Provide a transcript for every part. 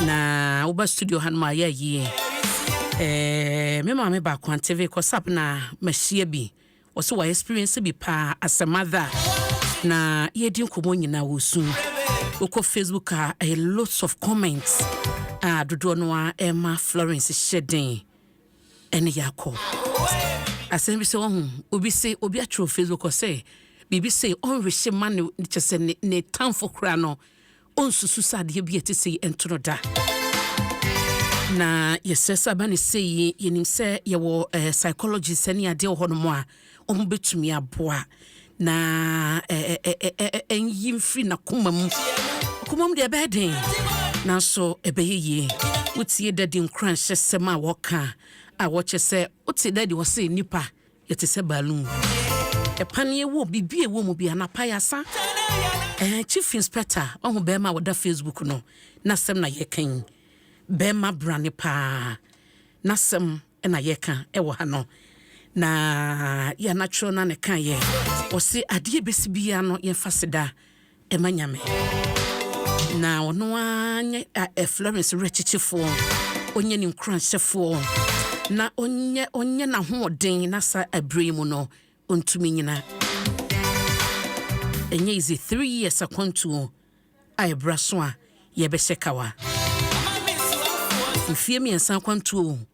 na woba studio hanom a yɛ ayie eh, me maame baako anteve kɔsap na mahyia bi ɔsɛ wa experience bi paa as a mother na yɛdi nkɔmmɔ nyinaa wɔ su wokɔ facebook a ɛyɛ lots of comments a dodoɔ no a ɛma florence hyɛ den ɛne yɛakɔ asɛm bi sɛ wahu obi se obi atwerɛ facebook ɔsɛ biribi se ɔnwehye ma ne kyɛ sɛ ne tamfo koraa no Ɔnsusu sɛ adeɛ bi a ɛte sei nto no da. Na yɛsrɛ sɛ aba ne sei yi, yɛnim sɛ yɛwɔ eh, psychologist ne adeɛ wɔ hɔnom a wɔn bɛtumi aboa na ɛnyi mfiri n'akoma mu akoma mu deɛ ɛbɛyɛ den nanso ɛbɛyɛ yie wotie dadi nkoranhyɛsɛm a wɔka a wɔkyɛ sɛ wote dadi wɔ se nnipa Yɛte sɛ balloon. Ɛpan yɛ wɔ biribi a ɛwɔ mu bi anapa yɛasa. Eh, Chief Inspector, wahu bɛrima a wɔda Facebook no, n'asɛm na yɛka yi. Bɛrima brane paa, n'asɛm na yɛka ɛwɔ ha no. Na yɛ anatwerɛ no a na ɛkaeɛ. Ɔse adeɛ bɛsi biara no yɛmfa seda. ma Nyame. Na ɔno ara nyɛ ɛ Florence werɛkyekyefoɔ, ɔnyɛ ne nkuranhyɛfoɔ, na ɔnyɛ ɔnyɛ n'ahoɔden na saa ɛberɛ yi mu no ɔntumi nyina. Ɛnyɛ izi three years akwantuo a ɛbra so a yɛbɛhyɛ kawa. Mfie mmiɛnsa akwantuo.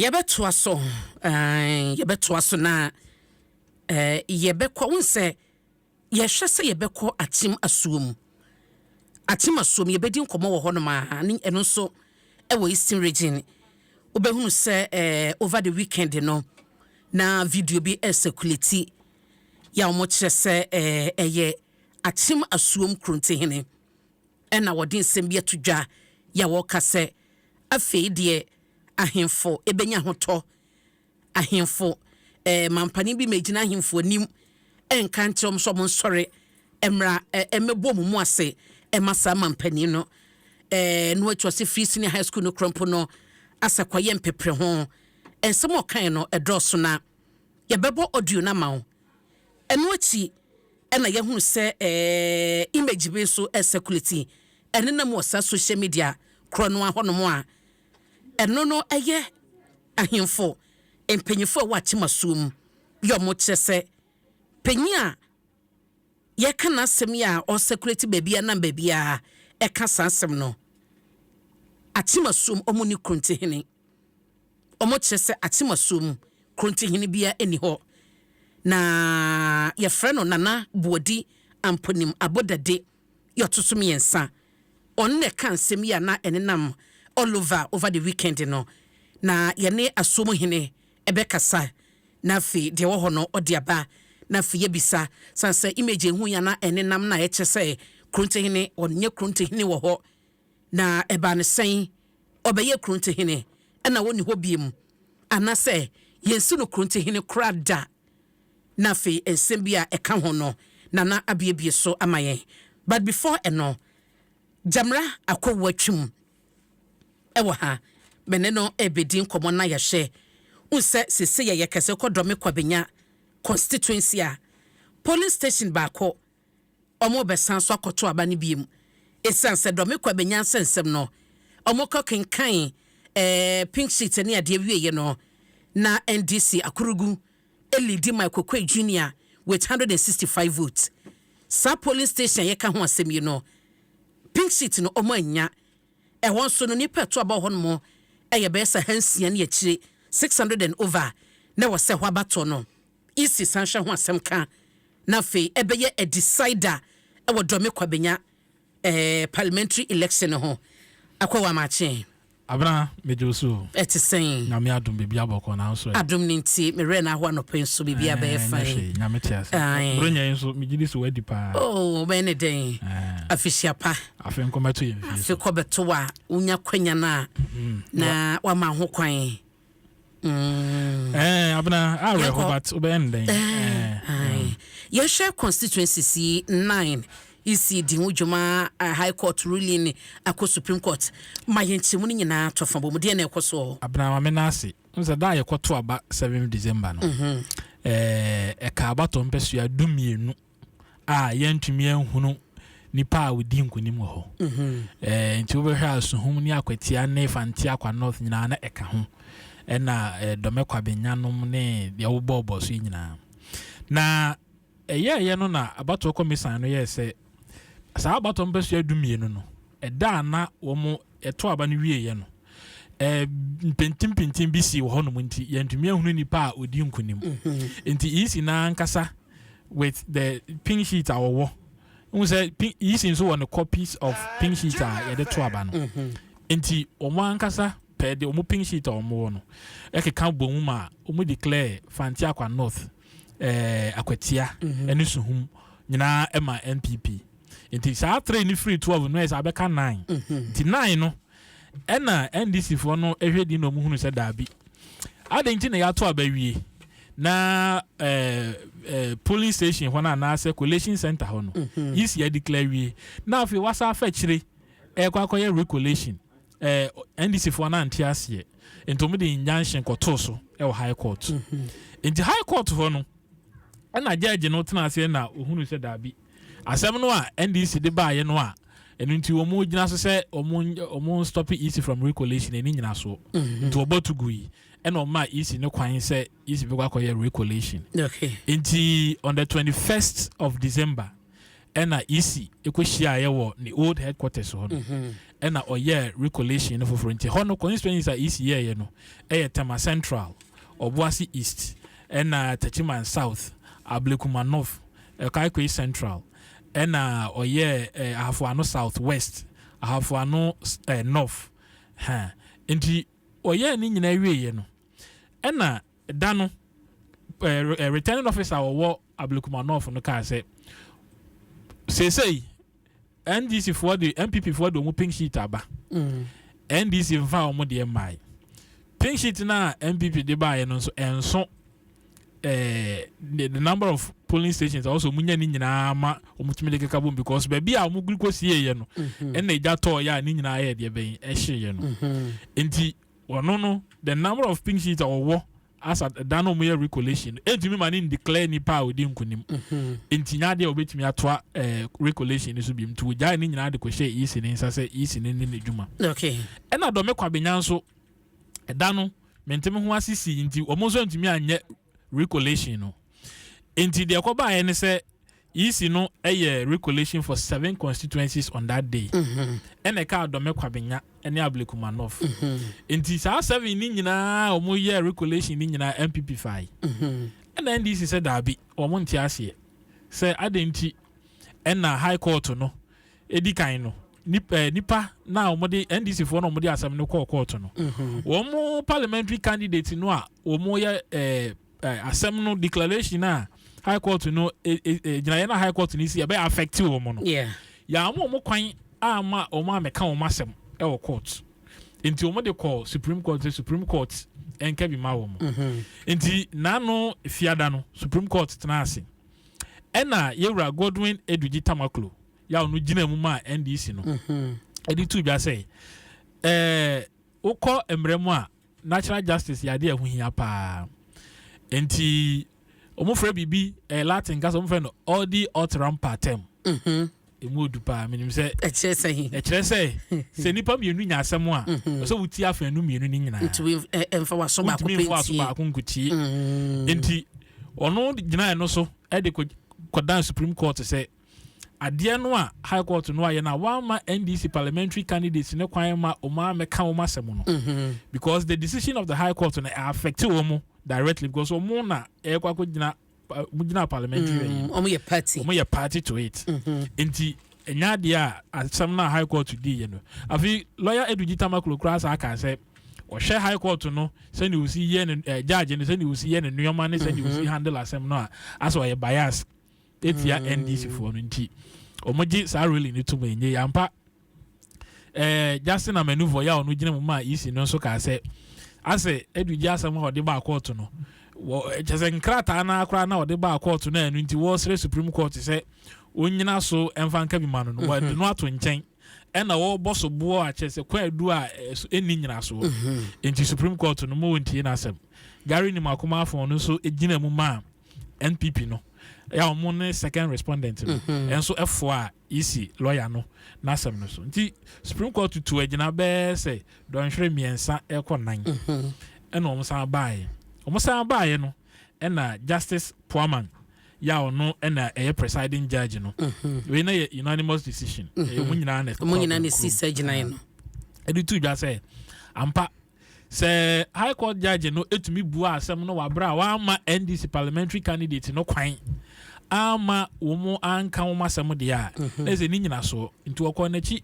yɛbɛtoa so yɛbɛtoa so na yɛbɛkɔ wo sɛ yɛhwɛ sɛ yɛbɛkɔ akyem asuo mu akyem asuo mu yɛbɛdi nkɔmmɔ wɔ hɔnom a ne ɛno nso ɛwɔ eastern region wobɛhunu sɛ over the weekend no na video bi ɛsɛkulati yɛ a wɔkyerɛ sɛ ɛyɛ akyem asuom kurontihene Ɛnna wɔde nsɛm bi ato dwa yi a wɔka sɛ, Afei deɛ ahemfo bɛnya ahotɔ. Ahemfo eh, mampanin bi mmɛgyina ahemfo anim nka nkyerɛ wɔn sɛ wɔnsɔre mmra eh, mmɛbɔ wɔn mu ase mma saa mampanin no. Eh, no akyi ɔse firi senior high school no korɔ mpo no, asɛ kɔyɛ mpepere ho. Nsɛm a ɔkae no ɛdɔɔso na Yɛbɛbɔ audio no ama wo. Ɛno akyi na yɛahunu sɛ image bi nso circulate ɛnenam wɔ saa social media korɔ no ahɔnom a ɛno no ɛyɛ ahemfo mpanyinfo a ɛwɔ akyemasuo mu yɛ ɔmo kyerɛ sɛ panyin a yɛka n'asɛm yi a ɔsɛkulati baabi a nam baabi a ɛka saa asɛm no akyemasuom ɔmo ne kurontihene wɔkyerɛ sɛ Akyemasuo mu Krontihene biara nni hɔ na yɛfrɛ no Nana Boadi Amponim Abodade yɛ ɔto so mmiɛnsa. Ɔno na ɛka nsɛm yi a na ɛnenam all over over the weekend no na yɛne asuo mu hene ɛbɛkasa na afei deɛ ɛwɔ hɔ no ɔde aba na afei yɛbisa san sɛ image ehu yi a na ɛnenam na ɛkyɛ sɛ Krontihene ɔnyɛ Krontihene wɔ hɔ Na ɛbaa no sɛn? Ɔbɛyɛɛ Korontehene, ɛnna ɔnni hɔ bio, anaasɛ yɛnsi no Korontehene koraa da. Na afei nsɛm bi a ɛka ho no, Nana abuebue so ama yɛn. But before ɛno, Gyamera Akowu atwam wɔ ha, me ne no rebɛdi nkɔmmɔ na yɛahwɛ. Wohu sɛ seesei yɛyɛ kɛse kɔ Dɔme Kwabenya constituency a, polling station baako wɔrebɛsan so akɔto aba no bio. Esiane sɛ Dɔme Kwa bɛnya nsɛnsɛm no, wɔkɔ kenkan ɛɛ pink sheet ne adeɛ wieɛ no, na NDC Akurugu leadi Mike Okoe Junior with 165 votes. Saa polling station a yɛka ho asɛm yi no, pink sheet no wɔannya. Ɛhɔ nso no, nnipa ɛto aba wɔ hɔ nom yɛ bɛyɛ sɛ ahansia ne akyire, 600 and over, na ɛwɔ sɛ ɛhɔ aba tɔ no. Isi san hwɛ ho asɛm ka na afei ɛbɛyɛ a decider ɛwɔ Dorme Kwabenya eh, parliamentary election no ho. Akwa Wamakye. Abena, megye wo so o. Ɛte sɛn? Nyame adom biribiara bɔkɔɔ nanso ɛ. Adom no nti, me werɛ no ahoa anɔpa yi nso biribiara bɛyɛ Ɛɛ, nyɛ fine. hwee, Nyame te ase. Ae. Borɔnya yi nso, megye di sɛ woadi paa. Oh, wobɛyɛ no dɛn? Ɛɛ. Afihyia pa. Afe nkɔmmɛto yɛn fie Afe so. kɔbɛto a, wonya kwanya no a, na woama ho kwan. Mm. Eh, abena, ah, we ho but ube enden. Eh, eh, eh. Mm. Yɛhwɛ constituencies yi nine isi di ho dwuma uh, high court ruling akɔ supreme court ma yɛnkyɛmu no nyinaa tɔ fa bɔ mu deɛ na ɛkɔ soɔ abena ma me no ase n sɛ da a yɛkɔto aba 7 december no ɛka mm -hmm. eh, abatɔ mpɛsua dumienu a yɛntumi nhunu nipa a odi nkunim wɔ hɔ. Ɛɛ nti wobɛhwɛ a Suhum ne Akwatia ne Fantiakwa North nyinaa na ɛka ho. Ɛna ɛɛ Dɔmɛ Kwabenyanom ne deɛ wobɔɔbɔɔ so yi nyinaa. Na ɛyɛɛyɛ no na abatoɔ kɔmisan no yɛɛ sɛ saa abatoɔ mpɛsoa du mmienu no Ɛda a na wɔto aba no wieeɛ no, mpintimpintin bi sii wɔ hɔnom nti yɛntumi ahunu nipa a ɔdi nkunim. Mhm. Nti EC no ankasa with the pink sheet a wɔwɔ n sɛ EC nso wɔ ne copies of pink sheet a yɛde to aba no. Mhm. Nti wɔn ankasa pɛɛ de wɔn pink sheet a wɔn wɔ no ɛkeka bɔ mu ma wɔn declare Fanti Akwa North ɛɛ eh, Akwatia ɛne mhm. Suhum nyinaa ɛma NPP. Nti saa three no firi twelve no ayɛ sɛ abɛka nine. Nti nine no ɛna NDC foɔ no ɛhwɛ din na ɔmo hunu sɛ daabi. Adɛn nti na yɛato aba wie na ɛɛ ɛɛ polling station hɔ no anaasɛ collation center hɔ no yisi yɛ declare wie na afei wasa afa akyire ɛkɔ akɔyɛ recollation ɛɛ NDC foɔ no ante aseɛ nti ɔmo de injunction kɔtoo so ɛwɔ high court. Nti high court hɔ no ɛna judge no tena aseɛ na ohunu sɛ daabi. Asɛm no a NDC de baeɛ no a ɛno nti wɔn gyina so sɛ wɔn wɔn stop EC from recollation ɛni nyina soɔ mhm. nti wɔbɔ to gu yi ɛna wɔn maa EC no kwan sɛ EC bɛkɔ akɔyɛ recollation nti on the twenty first of December ɛna EC ɛkɔ hyiaeɛ wɔ ne old headquarters hɔ no mhm. ɛna ɔyɛ recollation no foforɔ nti hɔ no constituencies a EC yɛɛyɛ no ɛyɛ Tema Central Ɔboase East ɛna Techiman South, Ablekuma North, Kaikoyi Central, ɛna ɔyɛɛ eh, Ahafo Ano South West, Ahafo Ano eh, North. Ha. Nti ɔyɛɛ ne nyinaa wieeɛ no, ɛna da no eh, eh, returning officer a ɔwɔ Ablekuma North no kaa sɛ, seesei NDC foɔ de NPP foɔ de wɔn pink sheet aba NDC nfa wɔn deɛ mmae pink sheet na NPP de baayɛ no nso ɛnso ɛɛ the the number of polling stations also wɔn nya ne nyinaa ma wɔn tumi de keka bom because baabi a wɔn guri kɔ sie yɛ no mhm. ɛna egya tɔɔ yɛ a ne nyinaa yɛ deɛ bɛn ɛhye yɛ no mhm. nti wɔn no the number of pink sheet a wɔwɔ. Asa da no a wɔyɛ recollection no ntumi ma ne ndeclare nipa a odi nkunim mm-hmm. nti nya adeɛ a wɔbɛtumi atoa eh, recollection no so bi nti wɔgyae ne nyinaa de kɔhyɛ ec ne nsa sɛ ec ne ne n'adwuma ɛna dɔme kwabenya nso ɛda no menteme ho ase si nti wɔn nso ntumi anyɛ recollection no nti deɛ ɛkɔbaeɛ ne sɛ Yisi no yɛ recolation for seven constituencies on that day. Ɛna ɛkaa Dɔmɛ Kwabenya ne Ableku Manoff. Nti saa seven ne nyinaa a wɔn yɛ recolation ne nyinaa NPP fae. Ɛna NDC sɛ daabi, wɔn nte aseɛ sɛ adɛn nti ɛna High Court no di kan no nipa na wɔn de NDC foɔ na wɔn de asɛm no kɔɔ court no. Wɔn parliamentary candidate no a wɔn yɛ ɛɛ. eh, asɛm no declaration a high court no eh, eh, eh, gyinaeɛ no a high court no si ɛbɛyɛ affect wɔn no yeah. yɛama wɔn kwan ama wɔn a mɛka wɔn asɛm ɛwɔ court nti wɔn de kɔ supreme court sɛ supreme court ɛnka bi ma wɔn mm-hmm. nti n'ano fiada no supreme court tena ase ɛna yɛwura godwin edugyi tamaklo yɛ a ɔno gyina mu ma ndc no ɛde mm-hmm. tu dwa sɛ ɛɛ wokɔ mmerɛ mu a Natural justice yɛ adeɛ a ɛho hia paa. Nti wɔfrɛ biribi eh, Latin kasa wɔfrɛ no audi alteram partem. Mm-hmm. Emu odu paa menim sɛ. Ɛkyerɛ sɛ he. Ɛkyerɛ sɛ sɛ nipa mmienu nya asɛm a mm-hmm. ɔsɛ wotie afɛn no mmienu ne nyinaa. Ntumi mfa eh, waso baako pɛ ntie. Ntumi mfa waso baako nkotie. Mm-hmm. Nti ɔno gyinae no so ɛde kɔ kɔdan Supreme Court sɛ. adeɛ no a High Court no ayɛ no a wɔamma NDC parliamentary candidates no kwan mma wɔn ammɛka wɔn asɛm no mm-hmm. because the decision of the High Court no affect wɔn directly because wɔn na ɛrekɔ akɔgyina wɔn gyina parliamentary mm, ayi wɔn yɛ party wɔn yɛ party to it mm-hmm. nti ɛnya adeɛ a asɛm no a High Court di yɛ no afei lawyer Edu Gitama kurokura asa aka sɛ ɔhwɛ high court no sɛnea osi yɛ ne ɛɛ eh, judge no sɛnea osi yɛ ne nneɛma ne sɛnea osi mhm. handle asɛm no a asɛ ɔyɛ bias tia ndc foɔ no nti wɔn gye saa rally no tum enye yampa ɛɛ eh, Justin Amenuvo yɛ a ɔno gyina mu maa EC no nso kaa sɛ asɛ adugye asɛm a ɔde baa kɔɔto no wɔ kyɛ sɛ nkrataa no akora na ɔde baa kɔɔto no a ɛno nti wɔresrɛ Supreme Court sɛ onyina so mfa nka bi ma no no wɔde mhm. no ato nkyɛn ɛna wɔbɔ so boɔ akyɛ sɛ kwan adu a ɛni nyinasoɔ mhm. nti Supreme Court no ma wɔntie n'asɛm Gary Nimakoma afɔn no nso gyina mu maa npp no yɛ a wɔn ne second respondent no mhm. nso ɛfoɔ a esi lɔya no n'asɛm no so nti supreme court tutu agyina bɛɛ sɛ dɔnhwere mmiɛnsa ɛkɔ nan mhm. ɛna wɔn san baeɛ wɔn san baeɛ no ɛna justice poaman yà ɔno ɛna ɛyɛ presiding judge no mhm. wei na yɛ unanimous decision ɛyɛ wɔn nyinaa na ɛkɔ wɔn nyinaa na esi sɛ gyina yɛ no ɛde tu dwa sɛ ampa Sɛ High Court Judge no tumi buaa asɛm no wɔ abere a wamma NDC Parliamentary Candidate no kwan amma wɔn anka wɔn asɛm deɛ a, mhm. na ɛsɛ ne nyinasoɔ. Nti wɔkɔɔ n'akyi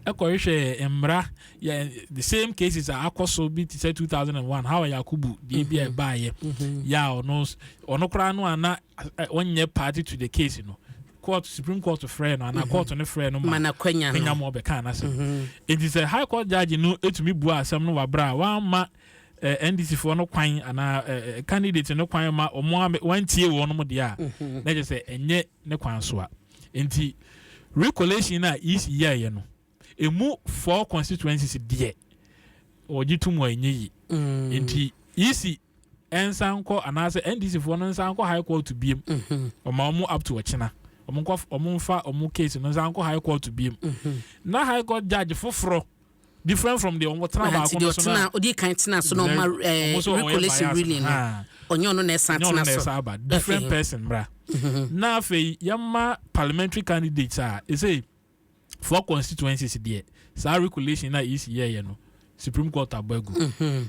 kɔhwehwɛɛ mmara yɛ the same cases a akɔ so bi te sɛ 2001 Hawa Yakubu deɛ bi a mhm. ɛbaeɛ mhm. yɛ a ɔno ɔno koraa no a na ɔnyɛ party to the case no court supreme court frɛɛ no anaa court no frɛɛ no ma n'akwanya no nya ma ɔbɛka n'asɛm mhm. enti sɛ high court judge no etumi bua asɛm no wabra a wamma eh, ndc foɔ no kwan anaa eh, eh, candidate no kwan ma wɔn a wɔntie wɔn mo deɛ a mhm. na kyerɛ sɛ ɛnyɛ ne kwan so a nti recollection a ec yɛɛyɛ no Emu four constituencies deɛ wɔgye tom a ɛnyɛ yi. Nti EC ɛnsan nkɔ anaasɛ NDC foɔ no nsan nkɔ high court biem. Ɔma wɔn up to ɔkyena. Wɔn nkɔ wɔn nfa wɔn case no nsan nkɔ high court biem. Na high court judge foforɔ different from deɛ wɔn tena baako no so na. Odi kan tena so na ɔma recollection ruling no. Ɔnyɛ ɔno na ɛsan tena so. Ɔnyɛ ɔno na ɛsan aba. Different person mra. Na afei yɛma parliamentary candidates a ɛsɛ. four constituencies deɛ saa regulation na EC yɛɛyɛ no Supreme Court abɔ agu mhm.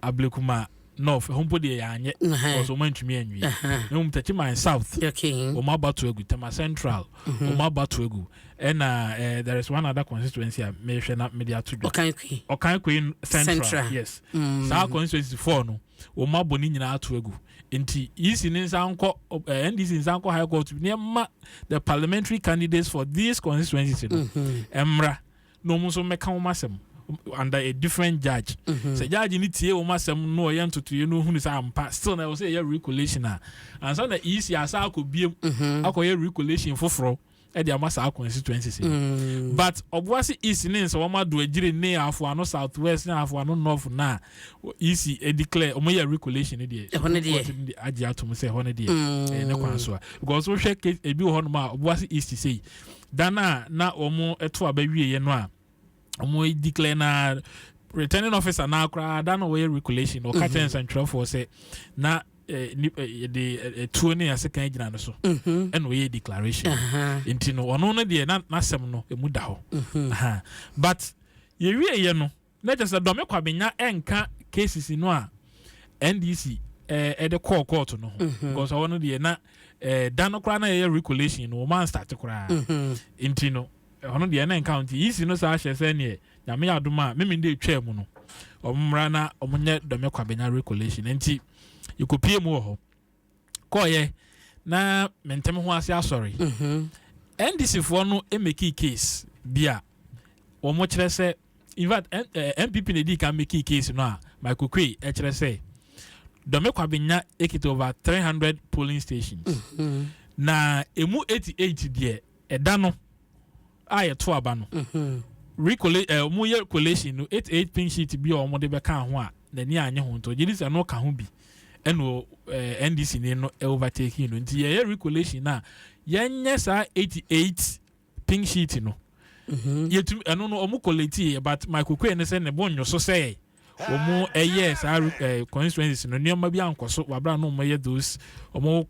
Ablekuma North ɛho mpo deɛ yɛanyɛ because wɔn antumi anwie na wɔn tɛkyi man South wɔn abato agu Tema Central wɔn mhm. abato agu ɛna eh, there is one other constituency a mehwɛ na mede ato dwa Ɔkan Koyi Central yes mm. saa constituency four no. wɔn abɔ ne nyinaa ato agu nti ec ne nsa nkɔ eh, ndc nsa nkɔ high court ne ɛma the parliamentary candidates for these constituencies no mmra mm-hmm. na wɔn nso mmɛka wɔn asɛm under a different judge mm-hmm. sɛ judge ne tie wɔn asɛm no ɔyɛ ntotoeɛ no ohunu sɛ ampa still na ɛwɔ sɛ ɛyɛ regulation a ansa na ec asa akɔ biem mm-hmm. akɔyɛ regulation foforɔ. ɛde ama saa constituencies yi mm. but ɔboase east ne nsɛ wɔn ado agyire ne afoano south west ne afoano north na east declare wɔn yɛ regulation ne deɛ ɛhɔ ne deɛ agye atom sɛ ɛhɔ ne deɛ mm. ɛyɛ ne kwan so a because wohwɛ case ebi wɔ hɔ nom a ɔboase east sei dan a na wɔn ɛto aba wie yɛ no a. ɔmo declare na returning officer na koraa da na wɔyɛ regulation ɔka kyerɛ mhm. nsɛntwerɛfoɔ sɛ na eh, eh, de eh, tuo ne ase kan gyina no so mhm. ɛna ɔyɛ declaration nti no ɔno no deɛ n'asɛm no ɛmu da hɔ mhm. but yɛwieɛ no na kyɛ sɛ dɔme kwabenya ɛnka cases no a ndc ɛde kɔɔ court no ho because ɔwɔ no deɛ na da no koraa na yɛyɛ regulation no wɔn anstarte koraa nti no Ɔno deɛ na nka nti yisi no saa hyɛ sɛ neɛ nyame yɛ adom a memende etwaa mu no ɔmo mmra na ɔmo nyɛ dɔme kwabenya recolation nti yɛkɔpie mu wɔ hɔ kɔɔyɛ na mentem ho ase asɔre mhm. ndc foɔ no mekii case bi a wɔn kyerɛ sɛ in fact npp eh, na edi kan mekii case no a michael kwe kyerɛ sɛ dɔme kwabenya ekita over three hundred polling stations mhm. na emu eighty eight deɛ Ɛda no a yɛto aba no, recolla eh, wɔyɛ collation no, eight eight pink sheet bi a wɔde bɛka ho a n'ani annye ho nti ɔgye di sɛ no ka ho bi ɛna eh, NDC ni no overtake no nti yɛyɛ recollation no a yɛnyɛ saa eighty eight pink sheet no yɛtumi ɛno no wɔn collate yɛ but my kokue ne sɛ ne bo nnwo so sɛ wɔn ɛyɛ saa eh, constituencies no nneɛma bi ankɔ so wabra no wɔn yɛ those wɔn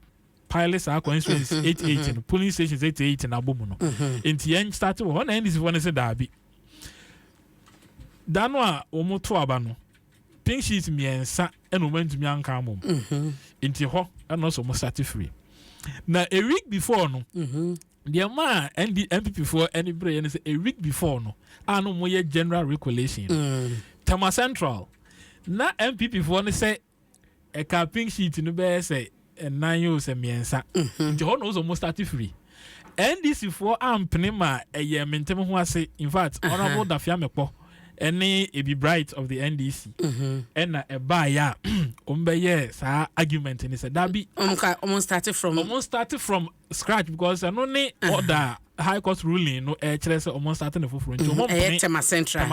pile saa constituents eight eight no polling stations eight eight na abɔ mu no mm-hmm. nti yɛn start wɔ hɔ na ndc fo no sɛ daabi da no a wɔn to aba no pink sheet mmiɛnsa ɛna wɔn antumi anka ama mu mm-hmm. nti hɔ ɛna ɔsɛ wɔn start free na a week before no. Mm-hmm. deɛ maa nd npp foɔ ɛne bere yɛ no sɛ a week before no a no wɔyɛ general recollection mm. tama central na npp foɔ no sɛ ɛka pink sheet no bɛyɛ sɛ nnan o sɛ mmiɛnsa mhm. nti hɔ na ɔsɛ ɔmo start firi ndc foɔ ampene ma ɛyɛ mentem ho ase in fact honourable dafia mekpɔ ɛne ebi bright of the ndc mhm. ɛna ɛbaa yɛ a ɔmo bɛyɛ saa argument ne sɛ dabi ɔmo start from ɔmo start from scratch because ɛno ne order high court ruling no ɛkyerɛ sɛ ɔmo start ne foforɔ nti ɔmo mhm. mpene tema central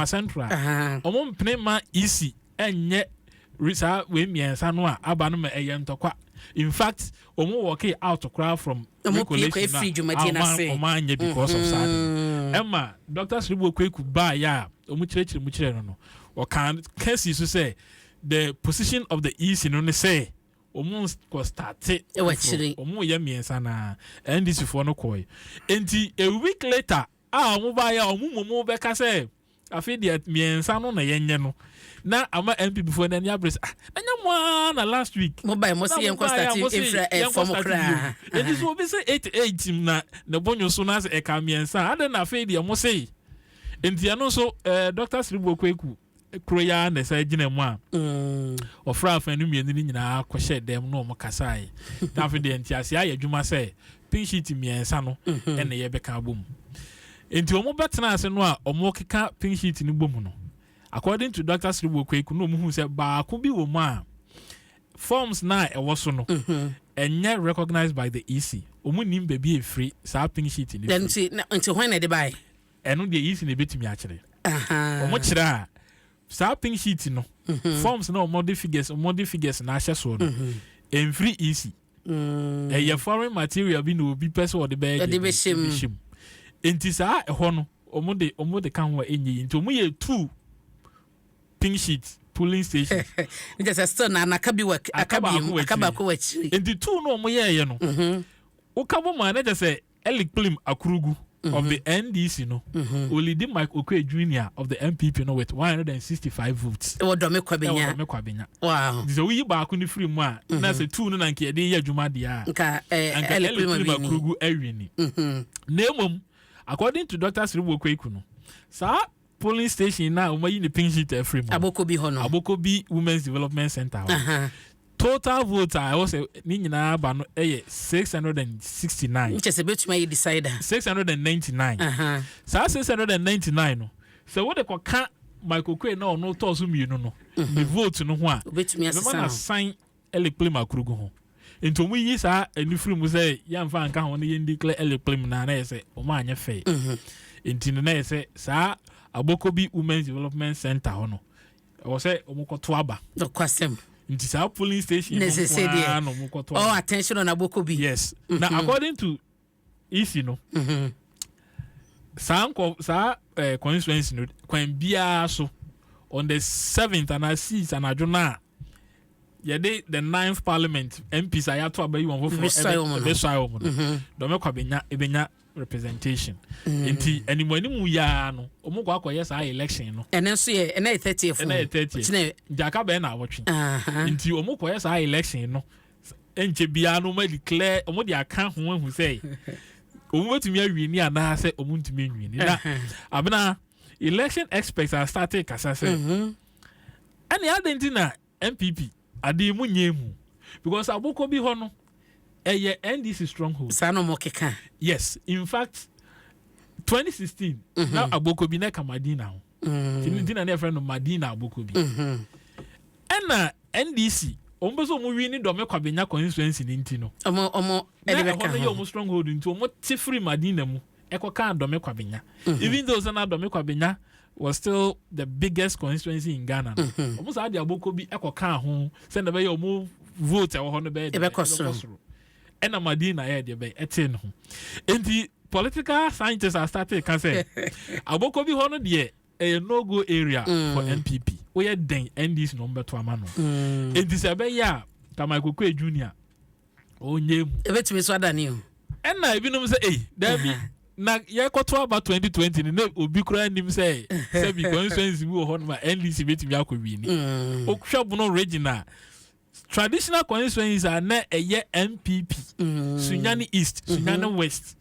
ɔmo mpene ma ec ɛnyɛ saa wei mmiɛnsa no a aba no ma ɛyɛ ntɔkwa in fact wɔn wɔke out koraa from regulation na wɔn anyɛ because of saa mm. ɛma dr siribu okweku baa yɛ a wɔn kyerɛkyerɛ mu kyerɛ no no wɔkan kɛse so sɛ the position of the ec no ne sɛ wɔn kɔ starte wɔn yɛ mmiɛnsa na ndc foɔ no kɔɛ nti a week later. A wɔn baeɛ a, wɔn mmom bɛka sɛ, afei deɛ mmiɛnsa no na yɛnyɛ no, na ama NPP foɔ no ani abere sɛ, ah, ɛnyɛ mo ara na last week mo baeɛ mo se yɛnkɔ start mfra fam koraa. Enti sɛ obi se eight eight na ne bo nwoso na sɛ ɛka mmiɛnsa a, adɛn na afei deɛ mo se? Enti ɛno nso, eh, Doctor Siribo Kweku. koro yi ara na ɛsan gyina mu a wɔfrɛ afanu mmienu no nyinaa kɔhyɛɛ dɛm na wɔkasae. Na afei deɛ nteaseɛ ayɛ adwuma sɛ pink sheet mmiɛnsa no mhm. na yɛbɛka abɔ mu. Nti wɔbɛtena ase no a wɔkeka pink sheet no bɔ mu no, according to Dr. Siribo Kweku na wɔhu sɛ baako bi wɔ mu a forms na a ɛwɔ so no mhm. ɛnyɛ recognized by the EC. Wɔn nim baabi efiri saa pink sheet no firi. Nti nti hɔn na ɛde baayɛ. Ɛno deɛ Yesu na ɛbɛtumi akyerɛ. Wɔn kyerɛ a, saa pink sheet no, forms na wɔn de figures, wɔn de figures na ahyɛ soɔ no, ɛnfiri Yesu. Ɛyɛ foreign material bi na obi pɛ sɛ ɔde bɛyɛ deɛ ɛbɛhyɛ mu. Nti saa ɛhɔ no, wɔn de wɔn de ka ho a ɛnyɛ yi. Nti wɔn yɛ two pink sheet polling station. Nti sɛ still na na kabi wa akabi mu akabaako wɔ akyiri. Nti two no wɔn yɛɛyɛ no, woka bɔ mu a na kyɛ sɛ Eli Kplim Akurugu of the NDC no olidi Mike Okoe Junior of the NPP no with one hundred and sixty five votes. Ɛwɔ Dɔme Kwabenya. Ɛwɔ Dɔme Kwabenya. Wow. Nti sɛ woyi baako no firi mu a, na sɛ two no na nka yɛde yɛ adwuma deɛ a, nka Eli Kplim Akurugu awi ni. Na mmom, according to Doctor Serebour Kweku no, saa Polling station no a wɔayi ne pink sheet afiri mu. Abokobi hɔ no. Abokobi Women's Development Centre hɔ. Total vote a ɛwɔ sɛ ne nyinaa aba no yɛ six hundred and sixty nine. Nkyɛ sɛ bɛtumi ayɛ decider. Six hundred and ninety nine. Saa six hundred and ninety nine no sɛ wode kɔka Michael Quay na ɔno tɔɔ so mmienu no ne vote no ho a, ɛbɛma no asan Elikplim akurugu ho. Nti wɔn yiyi saa ani firi mu sɛ yɛnfa nka ho ne yɛn di kle Elikplim na na yɛ sɛ wɔn anyɛ fɛ. Nti no na yɛ sɛ saa Abokobi Women's Development Center hɔ no ɛwɔ sɛ wɔn kɔ to aba. Nokwasɛm. Nti saa polling station no nko ara na wɔn kɔ to aba. All attention on Abokobi. Yes. Na according to isi no mhm. saa nkɔ saa ɛɛ eh, constituency no kwan biara so on the seventh anaa six anadwo no a yɛde the ninth parliament mps a yɛato abɛyi wɔn foforɔ ɛbɛsɔe wɔn no mhm. dɔmɛkwa bɛnya ɛbɛnya representation mhm. nti ɛnimu ɛnimu yaa no wɔn kɔ akɔyɛ saa election no. ɛnɛ nso yɛ ɛnɛ yɛ thirtieth ɛnɛ yɛ thirtieth gyaka bɛn na awɔtwe nti wɔn kɔyɛ saa election no ɛnkyɛ biara no wɔn declare wɔn de aka ho ehu sɛ wɔn bɛtumi awie ni anaa sɛ wɔn ntumi anwie ni na abena election experts are starting kasa sɛ ɛne adi nti na npp adi mu nye mu because aboko bi hɔ no ɛyɛ ndc stronghold. saa na wɔn keka. yes in fact twenty sixteen na mhm. aboko bi na kama di na ho. nti no nti na ne yɛfrɛ no madina aboko bi ɛna ndc wɔn bɛ sɛ wɔn wi ne dɔmɛ kwabenya constituency ne nti no ɔmo ɔmo ɛde bɛka ho na ɛhɔ no yɛ wɔn stronghold nti wɔn te firi madina mu ɛkɔ kan dɔmɛ kwabenya even though sɛ na dɔmɛ kwabenya was still the biggest constituency in ghana no wɔn saa de aboko bi ɛkɔ kan ho sɛ na bɛyɛ wɔn vote ɛwɔ hɔ no bɛyɛ de ɛbɛkɔ soro. ɛna madina yɛ deɛ bɛn ɛtee ne ho nti political scientists are starting ka sɛ abɔkɔ bi hɔ no deɛ ɛyɛ no go area mm. for npp woyɛ dɛn ndc na ɔmbɛto ama no mm. nti sɛ ɛbɛyɛ a kamakokoe junior ɔnyɛ mu ɛbɛtumi so adane o ɛna ebinom sɛ ei daabi uh-huh. na yɛkɔto aba 2020 no na obi koraa nim sɛ sɛbi constituency bi wɔ hɔ no ma ndc bɛtumi akɔ wini mm. wohwɛ bono region a traditional constituencies a na ɛyɛ npp mm. sunyani east mm-hmm. sunyani mm-hmm. west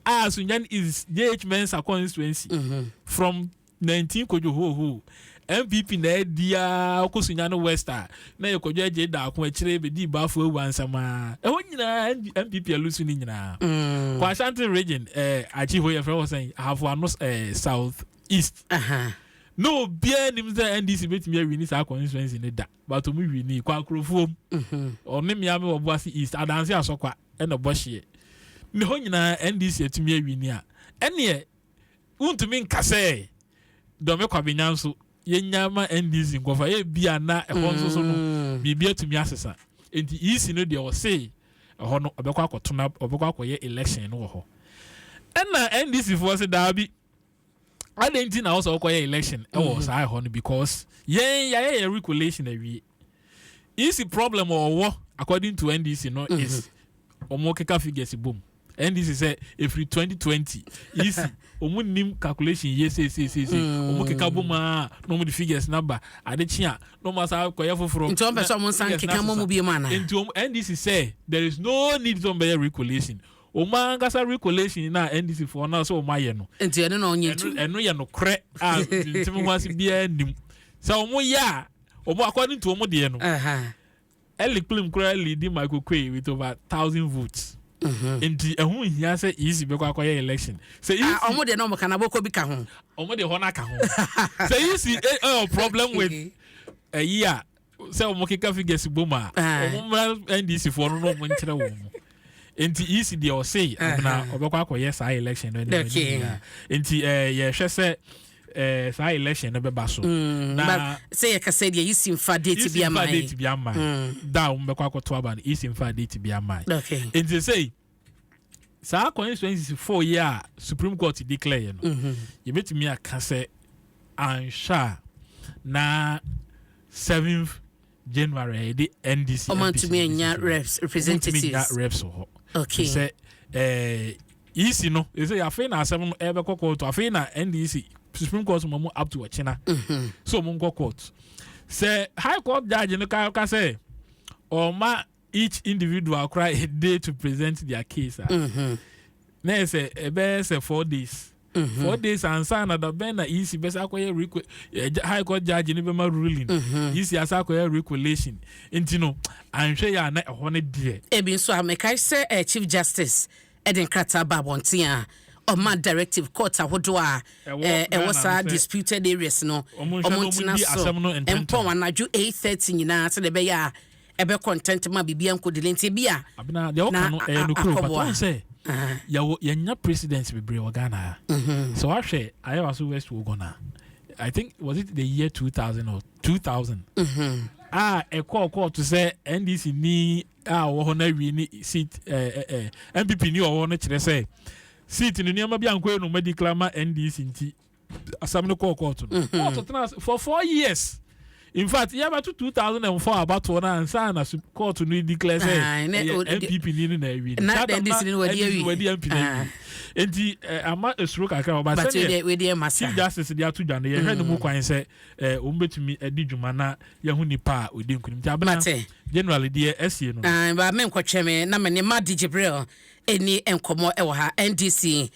a sunyani east jh mensa constituency mm-hmm. from 19 kojú hóhó npp na ɛdi a ɔkɔ sunyani west a na yɛ kɔjú ɛgye daako akyire bɛdi ibaafo ewu ansama ɛhɔ nyinaa npp alusu ni nyinaa mm. kɔ ashanti region ɛɛ eh, akyi hɔ yɛ fɛn wɔ sɛn ahafo ano ɛɛ eh, south east. Uh -huh. na obiara nim sɛ ndc betumi awi ne saa constituency ne da but ɔmo wi ni kwakurofuom ɔne mmea me wɔ boase east adanse asɔkwa ɛna ɔbɔ hyeɛ ne hɔ nyinaa ndc atumi awi ni a ɛneɛ wontumi nka sɛ dɔme kwabenya nso yɛnya ma ndc nkɔfa ebi a na ɛhɔ nso so no mm. biribi atumi asesa nti ec no deɛ ɔse ɛhɔ no ɔbɛkɔ akɔtona ɔbɛkɔ akɔyɛ election no wɔ hɔ ɛna ndc foɔ se daabi adɛn nti na ɔsɛ ɔkɔyɛ election ɛwɔ mm-hmm. saa ɛhɔ no because yɛn yɛayɛ yɛ recollation awie isi problem ɔwɔ according to ndc no mm-hmm. is ɔmo keka figures bom ndc sɛ efiri 2020 isi ɔmo nim calculation yie seeseeseese mm. ɔmo keka bom aa na ɔmo de figures na ba ade kye a na ɔmo asa kɔyɛ foforɔ nti ɔmo pɛ sɛ ɔmo nsan keka mɔmu bie mu ana nti ɔmo ndc sɛ there is no need sɛ ɔmo bɛyɛ recollation Wɔn ankasa recollation na NDC foɔ na sɛ wɔn ayɛ no. Nti ɛno na ɔnyɛ ntu. Ɛno yɛ no korɛ a ntumi ho ase biara nim. Sɛ wɔn yɛ a, wɔn according to wɔn deɛ no. Ɛli kplim koraa leadi Michael Kwe with over thousand votes. Mhm. Nti ɛho nhia sɛ EC bɛkɔ akɔyɛ election. Sɛ EC. Ah, wɔn deɛ na wɔn ka na bɔkɔ bi ka ho. Wɔn deɛ hɔ na ka ho. Sɛ EC ɛyɛ eh, eh, oh, problem with ɛyi a sɛ wɔn keka figures bom a wɔn mmara ndc foɔ no na wɔn nkyerɛ wɔn mu nti ec deɛ ɔse amena ɔbɛkɔ akɔyɛ saa election no ɛna ɛni nyinaa nti ɛɛ yɛhwɛ sɛ ɛɛ saa election no bɛba so mm, na sɛ yɛ kasa deɛ ec nfa date bi ama yi ec nfa date bi ama yi mm. da a wɔn bɛkɔ akɔto aba no ec nfa date bi ama yi nti sɛ. saa constituency four yi a supreme court declare yɛ no mhm. yɛbɛtumi aka sɛ anhwɛ a na seventh january yɛde ndc ɔmantumi anya reps representatives reps wɔ hɔ okay sɛ ɛɛ ec no ɛsɛ afei na asɛm no ɛbɛkɔ kɔɔto afei na ndc supreme court ma mu up to ɔkyena mhm. so ɔmo nkɔ court sɛ high court judge no ka ka sɛ ɔma. each individual koraa a day to present their case a mm-hmm. na yɛ sɛ ɛbɛyɛ sɛ four days mm-hmm. four days ansa na da bɛn na ec bɛsɛ akɔyɛ requ eh, high court judge ne bɛma ruling mm-hmm. ec asa akɔyɛ regulation nti no anhwɛ yɛ a na ɛhɔ no deɛ ebi nso a mekae sɛ eh, chief justice ɛde nkrataa ba abɔnten a ɔma directive court ahodoɔ a ɛwɔ saa disputed areas no ɔmo ntena so mpɔn anadwo eight thirty nyinaa sɛdeɛ ɛbɛyɛ a ɛbɛkɔ ntɛntɛm a biribiara nkɔ delay nti ebi a Abena, deɛ woka no ɛyɛ nokorɛ o, but wohu sɛ yɛwɔ yɛnya presidents bebree wɔ Ghana ha. Sɛ woahwɛ Ayewa so West Wuogon a, I think was it the year 2000 or 2000 a ɛkɔɔ kɔɔto sɛ NDC ni a ɔwɔ hɔ no awie ne seat MPP ni ɔwɔ hɔ no kyerɛ sɛ seat no nneɛma bi ankɔ yɛ no ma declare ma NDC nti asɛm no kɔɔ kɔɔto no mm-hmm. kɔɔto tena ase for four years in fact yɛbɛto two thousand and four abatoɔ no ansa na kɔɔto no declare sɛ ɛyɛ npp ni no na awi no saa tam na ndc wadi mp na awi nti ama esoro kakra ɔba sɛdeɛ chief justice de ato dwa no yɛhwɛ ne mu mm. kwan sɛ wɔn bɛtumi adi dwuma na yɛho nipa a ɔdi nkunim nti abena generally deɛ ɛsie no. baa mi nkɔtwɛn mi na mi ni ma di jibril. nni nkɔmmɔ wɔ ha. NDC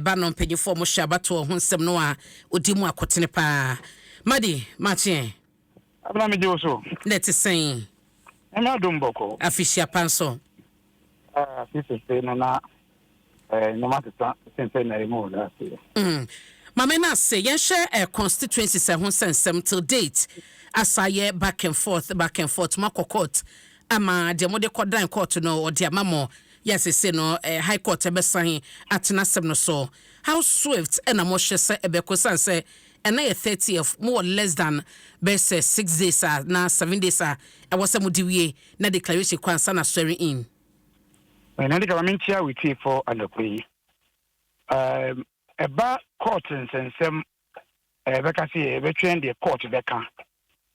ba no mpanyinfoɔ mo hyɛ abatoɔ ho nsɛm no a ɔdi mu akotene paa. Madi makyeɛ. Abena megye wo so. Na ɛte sɛn? Nyame adom bɔkɔ. Afihyia pa nso. Ah, fi sese no na eh, nneɛma teta sen sɛ na ɛmu wɔ last year. Mm. Mame no ase yɛnhwɛ eh, constituencies ɛho nsɛnsɛm till date asa yɛ back and forth back and forth moakɔ court Ama deɛ mode kɔdan kɔɔto no wɔde ama mo. Yɛ seesei no High Court bɛsan atena asɛm no so. How swift na mohwɛ sɛ ɛbɛkɔ ɛsiane sɛ ɛnnɛ yɛ thirtieth, mowɔ less than bɛyɛ sɛ six days a anaa seven days a ɛwɔ sɛ mode wie na declaration kɔ ansa na swearing in. Naneka ma menkyea wo tiefo anɔpa yi. Ɛba court nsɛnsɛm eh, bɛka sɛ yɛbɛtwɛn deɛ court bɛka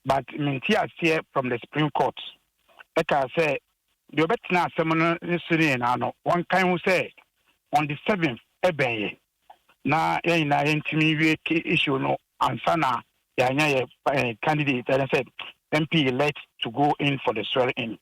but mente aseɛ from the supreme court ɛkaa sɛ deɛ ɔbɛtena asɛm no ne so ne nyinaa no wɔnkan ho sɛ on the seventh ɛbɛn yɛ na yɛn nyinaa yɛntumi nwie issue no ansa na yɛanya yɛ eh, candidate ɛne sɛ mp elect to go in for the swearing in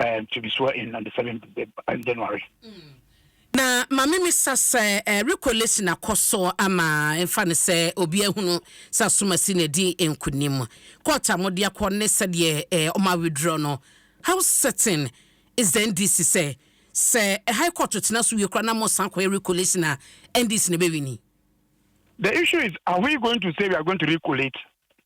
and to be swore in on the seventh day and January. Na mame me sa sɛ eh, recollection akɔ so ama mfa no sɛ obi ahunu sɛ asomasi na adi nkunim court a mode akɔ ne sɛdeɛ eh, ɔma withdraw no how certain is the ndc sɛ sɛ eh, high court tena so wie kora na mo san kɔyɛ recollection a ndc na ɛbɛwini The issue is, are we going to say we are going to recollate?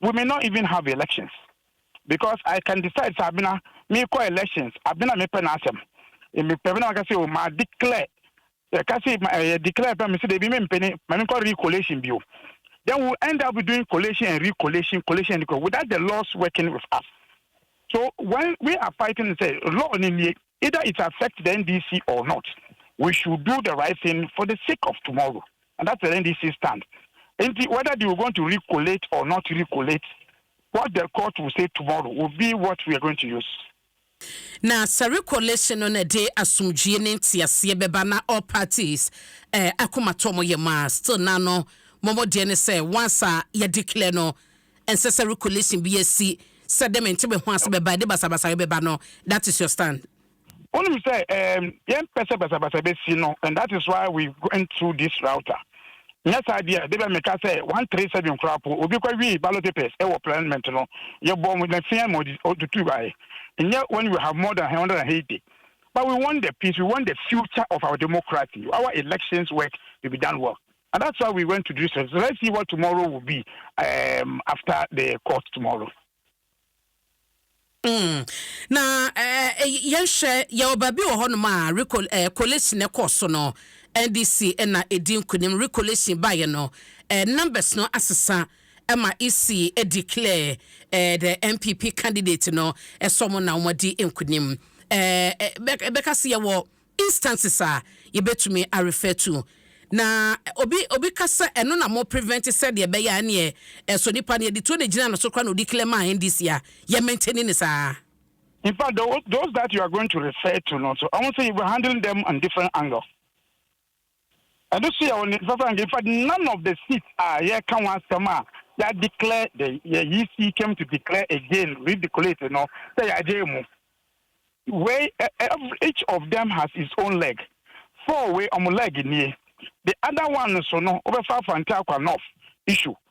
we may not even have elections because I can decide sɛ abena mekɔ elections abena mepɛ n'asɛm mepɛ bena maka sɛ o ma declare yɛka sɛ ma ɛyɛ declare pɛ mesɛ debi mempɛ ne ma menkɔ recollation bio then we end up doing collation and recollation collation and recollation without the laws working with us so when we are fighting sɛ law ne nie Either it affect the NDC or not, we should do the right thing for the sake of tomorrow and that's the NDC stand. Nti whether they will going to recollate or not recollate, what the court will say tomorrow will be what we are going to use. Na sɛ recollation no na ɛde asomdwie ne nteaseɛ bɛba na all parties eh, akomatɔ wɔn yam a, still na no, wɔn deɛ ne sɛ once a yɛ declare no, Ɛnsɛ sɛ recolation bi a si sɛ de me nte me ho ase bɛba ɛde basabasa rebɛba no that is your stand. Wonim sɛ ɛɛm yɛn pɛ sɛ basabasa bɛsi no and that is why we went through this router nyɛ saa deɛ a debɛ meka sɛ one three seven koraa po obi kɔ wii ballot papers ɛwɔ parliament no yɛ bɔ mo na fia ma ɔtutu baɛ nyɛ when we have more than one hundred and eighty but we want the peace we want the future of our democracy our elections work to be done well. And that's why we went to Jerusalem. So let's see what tomorrow will be um, after the court tomorrow. Mm. na eh, eh, yɛnhwɛ yɛwɔ baabi wɔ hɔnom a eh, collation no kɔɔ so no ndc na ɛdi nkonim recolation baeɛ no numbers no asesa ma ec declare the mpp candidate no ɛsɔ mo na wɔadi nkonim bɛka se yɛwɔ instances a yɛbɛtumi a refer to. Na obi obi ka sɛ ɛno na mo prevent sɛdeɛ ɛbɛyɛ a ɛneɛ ɛsɔ nipa no yɛde tuo na ɛgyina no so koraa na ɔdi clear maa NDC a yɛ maintain no saa. In fact those those that you are going to refer to no nso wɔn nso you were handling them on different angle. Ɛno nso yɛ ɔne sasa nka in fact none of the seats a yɛreka ho asɛm a yɛ declare the yɛ EC came to declare again redecolate no sɛ yɛagye mu wei every each of them has its own leg four wei ɔmo leg nie the other one no so no wobɛfa afa ntaakwa north issue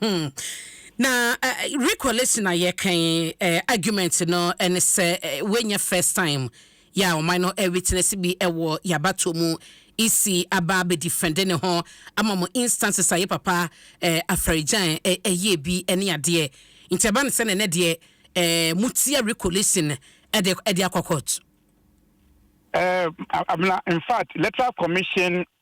Hmm. Na uh, recollection a yɛka yi uh, argument no ɛne sɛ uh, wɔnyɛ first time yɛ a ɔman no ɛwitness bi ɛwɔ yabato mu isi aba abɛdifɛnde ne ho ama mo instances a yɛ papa uh, afɛregyan ɛyɛ bi ɛne adeɛ nti ɛba no sɛ ne nɛ deɛ uh, motia recollection ɛde ɛde akɔ court. Uh, I mean, in fact, electoral commission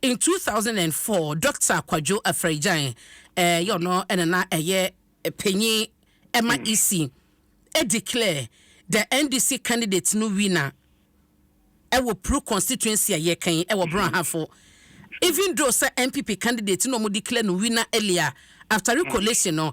In two thousand and four, Dɔkta Kwadwo Afragyan, ɛɛ yɛ ɔno ɛna na ɛyɛ panyin ɛma EC, ɛ declare the NDC candidate no winner ɛwɔ Pru constituency a yɛka yi ɛwɔ Brɔnhafo. Even though sɛ NPP candidate no wɔn declare no winner earlier after recollation no,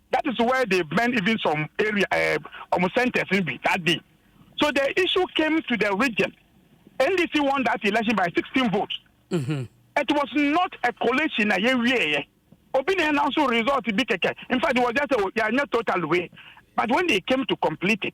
that is where they burn even some area eh, ɔmo um, centers no bi that day so the issue came to the region ndc won that election by sixteen votes mm -hmm. it was not a collation na yɛ wie yɛ obi na announce result bi kɛkɛ in fact it was just a yɛ anya total way but when they came to complete it.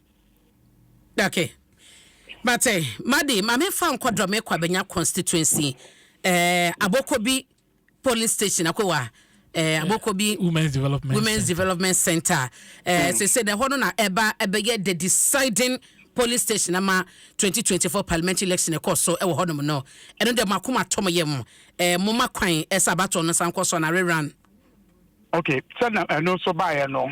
Ok but eh Madi ma me fa nkɔ Dormey Kwabenya constituency eh Abokobi polling station akɔ wa eh Abokobi Women's Development Women's Center. Development Center eh mm. sese na ɛhɔ no na ɛba ɛbɛyɛ the deciding polling station ama 2024 parliamentary election ɛkɔ so ɛwɔ hɔ nom no ɛno deɛ mako ma tɔm yɛ mo eh mo ma kwan ɛsɛ abatɔ no san kɔ so na rerun. Okay sɛ na ɛno nso baayɛ no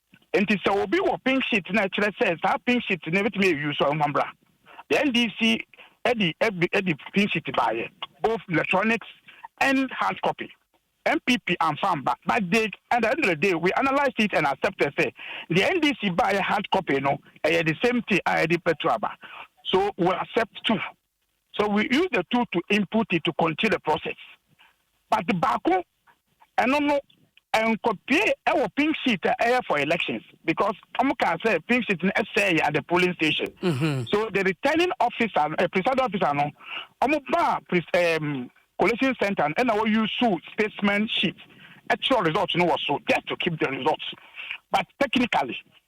Nti sɛ obi wɔ pink sheet na ɛkyerɛ sɛ saa pink sheet no ɛbɛtumi ayɛ use a ɔmfa mbra. The NDC ɛde ɛde pink sheet baayɛ both electronics and hard copy. NPP amfa mba but they and at the end of the day we analysed it and accepted sɛ deɛ NDC baayɛ hard copy no ɛyɛ the same thing a ɛde petrol aba so we accept too. So we use the two to input it to continue the process but baako ɛno no nkɔpie ɛwɔ pink sheet a ɛyɛ for elections because wɔn kaa sɛ pink sheet no ɛsɛɛ yɛ at the polling station mm-hmm. so the returning officer uh, eh, presiding officer no wɔn ba um, collation center no ɛna wɔyi so specimen sheet ɛkyerɛ result no wɔ so just to keep the results but technically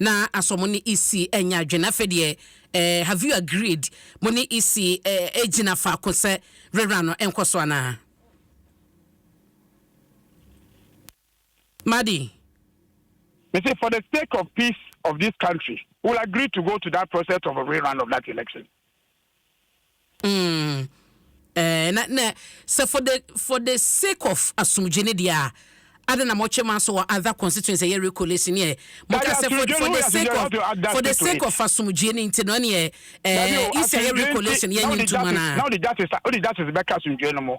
Na asɔ mo ne Isi ɛnyɛ adwene afei deɛ eh have you agreed mo ne Isi eh ɛgyina faako sɛ rerah no ɛnkɔ so anaa Madi. Me se for the sake of peace of this country we will agree to go to that process of a rerun of that election. Mm, eh, na, na, sɛ for the, for the sake of asomdwe ne deɛ a, ada na mɔtwe ma so wɔ other constituency ɛyɛ recollation neɛ, mɔka sɛ for, for the sake of, for the sake of asomdwe ne nti no neɛ, eh, isi ɛyɛ recollation yɛ nye ntum anaa. Na wode justice, wode justice bɛka asomdwe no mo.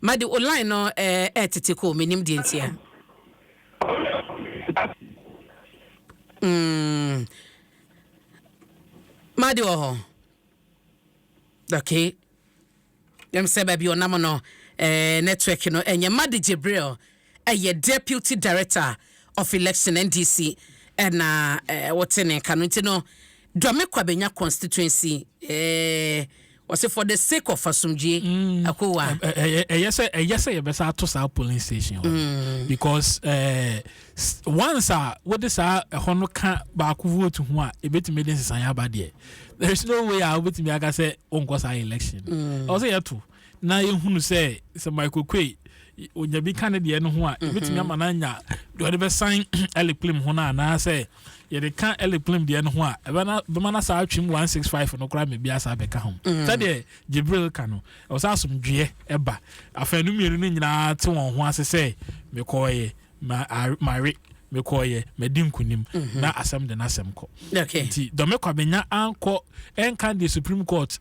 Madi o line no ɛɛtete kɔ o menim deɛ nti a. Mm. Madi wɔ hɔ. Okay. Yɛm sɛ baabi ɔnam no eh, network no ɛnyɛ Madi Jibril. Ɛyɛ Deputy Director of Election, NDC, na ɔte ne nka no nti no, Duame Kwabenya Constituency, wɔse for the sake of asomdwie, mm. Akowa. Ɛyɛ sɛ ɛyɛ sɛ yɛbɛsa ato saa polling station hɔ mm. because eh, once a wode saa ɛhɔ no ka baako vote ho a ebetumi de nsesan aba deɛ there is no way a wobetumi aka sɛ wonkɔ saa election. Mm. Ɔsɛ yɛto. na yɛhunu sɛ sɛ Michael Kwe ɔnya bi ka ne deɛ no ho a ɛbɛtumi ama no anya deɛ ɔde bɛsan Eric Plim ho no anaasɛ yɛde ka Eric Plim deɛ no ho a ɛbɛma no saa atwem 165 no koraa mebia saa bɛka ho sɛdeɛ Jibril ka no ɛwɔ sɛ asomdweɛ ɛba afanu mmienu no nyinaa te wɔn ho ase sɛ mekɔɔyɛ mawe mekɔɔyɛ madi nkonim mhm. na asɛm de n'asɛm kɔ nti dɔme kwabenya ankɔ ɛnka deɛ supreme court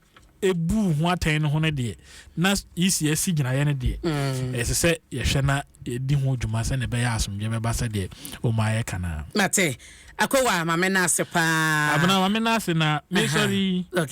buu ho atɛn no ho no deɛ na yisi asi gyinaeɛ no deɛ mm. ɛsɛ sɛ yɛhwɛ na yɛdi ho dwuma sɛdeɛ ɛbɛyɛ asomdwe bɛba sɛdeɛ ɔma ayɛ ka naa mate akɔwa mame no ase paa abena mame no ase na mesɔre